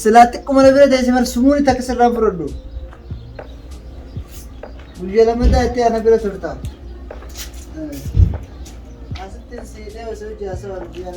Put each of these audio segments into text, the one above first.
Silaa xiqquma na bira teessee bar sumuun itti akka sirraa fudhadhu. Guyyaa lammataa itti ana bira turta. Asitti siidhee osoo ijaasa waan guyyaa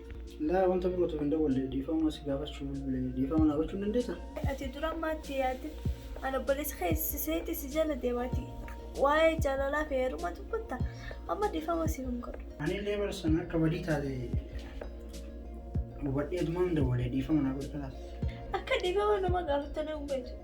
Laa wanta birootu hin dawwalle dhiifama si gaafachuu bilbile dhiifama naa gochuu hin dandeessa? Ati dura maatti yaadde an obboleessa kee seeti si jala deemaati waa'ee jaalalaa fi heeruma dubbatta amma dhiifama si hin godhu. Ani illee bara sana akka badii taate hubadhee dumaan dawwale dhiifama naa godhu kalaas. Akka dhiifama nama gaafattanii hin beektu.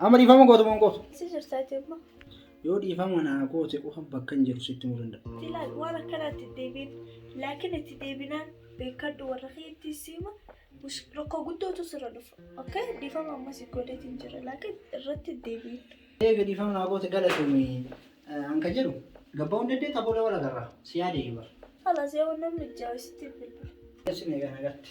Amma dhiifama gootu moo hin gootu? Si jirtaa jemma. Yoo dhiifama naa goote qofa bakka hin jiru sitti himuu danda'a. Ilaal waan akkanaatti hin deebiin. Laakiin itti deebinaan beekadhu warra keetti siima. Mush- Rakkoo guddootu sirra dhufa. Okay? Dhiifama ammas hin godhatin jira. Laakiin irratti hin deebiin. Eega dhiifama naa goote galatoomi. Eh, An kan jedhu gabbaa hin dandeetta booda wal agarra. Si yaade iyyuu bara. Halas yoo namni jaawisitti bilbila. Isin egaa nagaatti.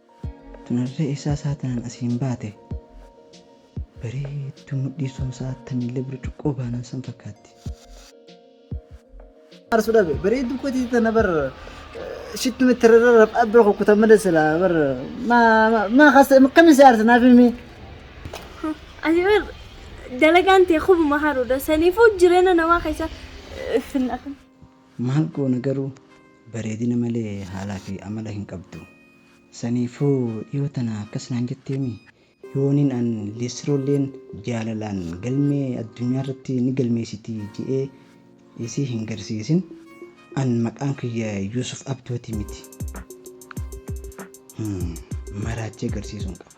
Tunarree eessaa sa'a tanaan asiin baate? Bareedduu mudhii somsaa attamillee burcuqqoo baanan san fakkaatti. Aarsu dhabe bareedduu kotii tana bar shittu mitti rarra rab'aa bira kukkutan malee silaa bar maa maa kasa akkamiin si aarsa naaf himi. Ani bar dalagaan tee kubuma haruudha saniifuu jireenya namaa keessa finna. Maal goona garuu bareedina malee haalaa fi amala hin qabdu. Saniifuu dhiyoo tana akkas naan jetteemi yoonin an liistroolleen jaalalaan galmee addunyaarratti ni galmeessiti je'ee isii hin garsiisin an maqaan kiyya Yuusuf Abdooti miti. Him. Maraachee garsiisuun qaba.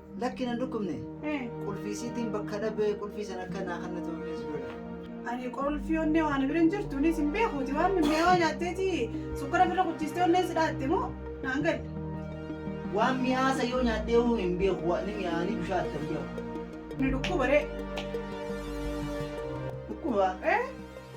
Lakki nan dhukkubne. Eh, Qulfii siitiin bakka dhabee qulfii sana akka naa kan na tolfees godha. Ani qolfii onnee waan bira hin jirtu innis hin beekuuti waan mi'aawaa nyaatteeti sukkara bira kuchistee onneen si dhaatte moo naan galle. Waan mi'aasa yoo nyaadhee hoo hin beeku waan ni mi'aanii bishaan itti hin beeku. Ni dhukkuba ree. Dhukkuba Eh,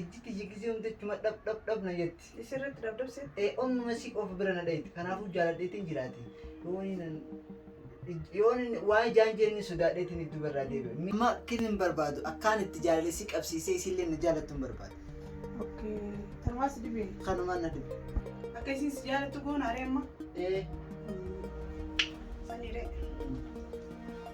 Ijji tiyya gisee hunda achuma dhab dhab dhab na jetti. Isirratti dhabdabse. Ee onnuma si qofa bira na dhayite. Kanaafuu jaaladheetiin jiraate. Yoon inni yoon inni waan ijaan jeenni sodaadheetiin iddoo barraa deebi'e. Amma kin hin barbaadu. Akkaan itti jaalalessi qabsiisee isiillee na jaalattu hin barbaadu. Okkee. Tanumaa si dhibee. Kanumaan na dhibe. Akka isin si jaalattu goona aree amma. Ee Saniiree.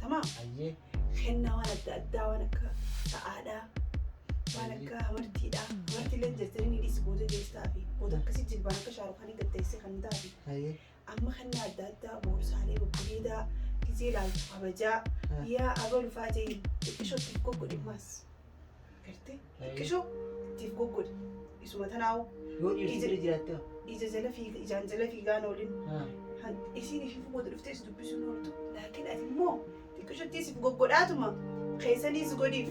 Tamaam. Ayyee. Kennaa waan adda addaa waan akka dha'aadhaa waan akka amartiidhaa amartiillee jirtanii ni dhiisi booda deessaa fi booda akkasii jilbaan akka shaarukaanii gaddeessee kan taate Ayyee. amma kennaa adda addaa boorsaalee babbareedaa gizee laaltu kabajaa yaa abalufaa jee xiqqishootti kokko dhimmaas. Gartee xiqqisho ittiif goggodhe. Isuma tanaa'u. Yoo dhiirti bira jiraatte hoo? Ija jala fiiga ijaan jala fiigaan oolin. Isiin ishii fugoota dhuftee si dubbisuun ooltu. Laakiin ati immoo xiqqishottii siif goggodhaatuma keessaniis godhiif.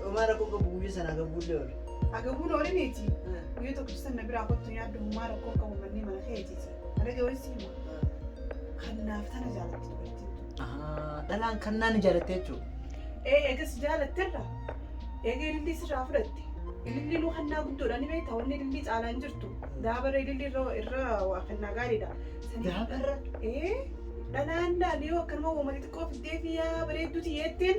Dhumaa rakkoon qabu guyyaa sana agabuullee oole. Agabuun oole miti. Guyyaa tokko ibsan na biraa kottu yaaddu hummaa rakkoon qabu mannii mana keetiiti. Mana gabaatti hima. Kan naaf tana jaalatti dubartiin. Dhalaan kan naan ijaaratte jechuudha. Ee eegas jaalatterra. Eega ilillii sirraa fudhatte. Ilillii nu hannaa guddoodha ni beekta wanni ilillii caalaan jirtu. Daabara ilillii irra irra waa kannaa gaariidha. Sanii- Daabarra? Ee dhalaan laal yoo akkanuma uummata xiqqoo fiddee fi yaa bareedduuti yeetteen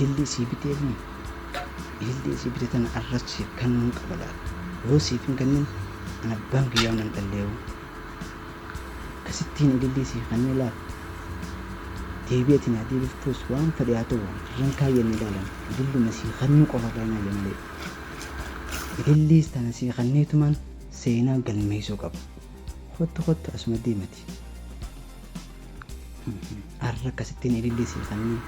ilillee sii bitee fi ilillee sii bitee tana arras siif kennuu qaba laal yoo siif hin kennin an abbaan kiyyaa nan dhalleewu Akkasittiin ilillii sii kannee laal. Deebii ati naa deebiftuus waan fedhe haa ta'u irran kaayyanne ilaalan ililluma sii kannuu qofa irraa hin haayyu malee. Ililliis tana sii kanneetumaan seenaa galmeessuu qaba. Kottu kottu asuma deemati. Arra akkasittiin ilillee sii kanneen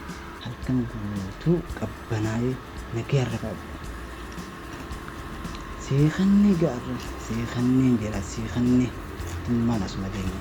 halkan guutuu qabbanaa'ee nagee arra qabu. Sii kannee gaarra sii kanneen jira sii kannee tummaan asuma deemu.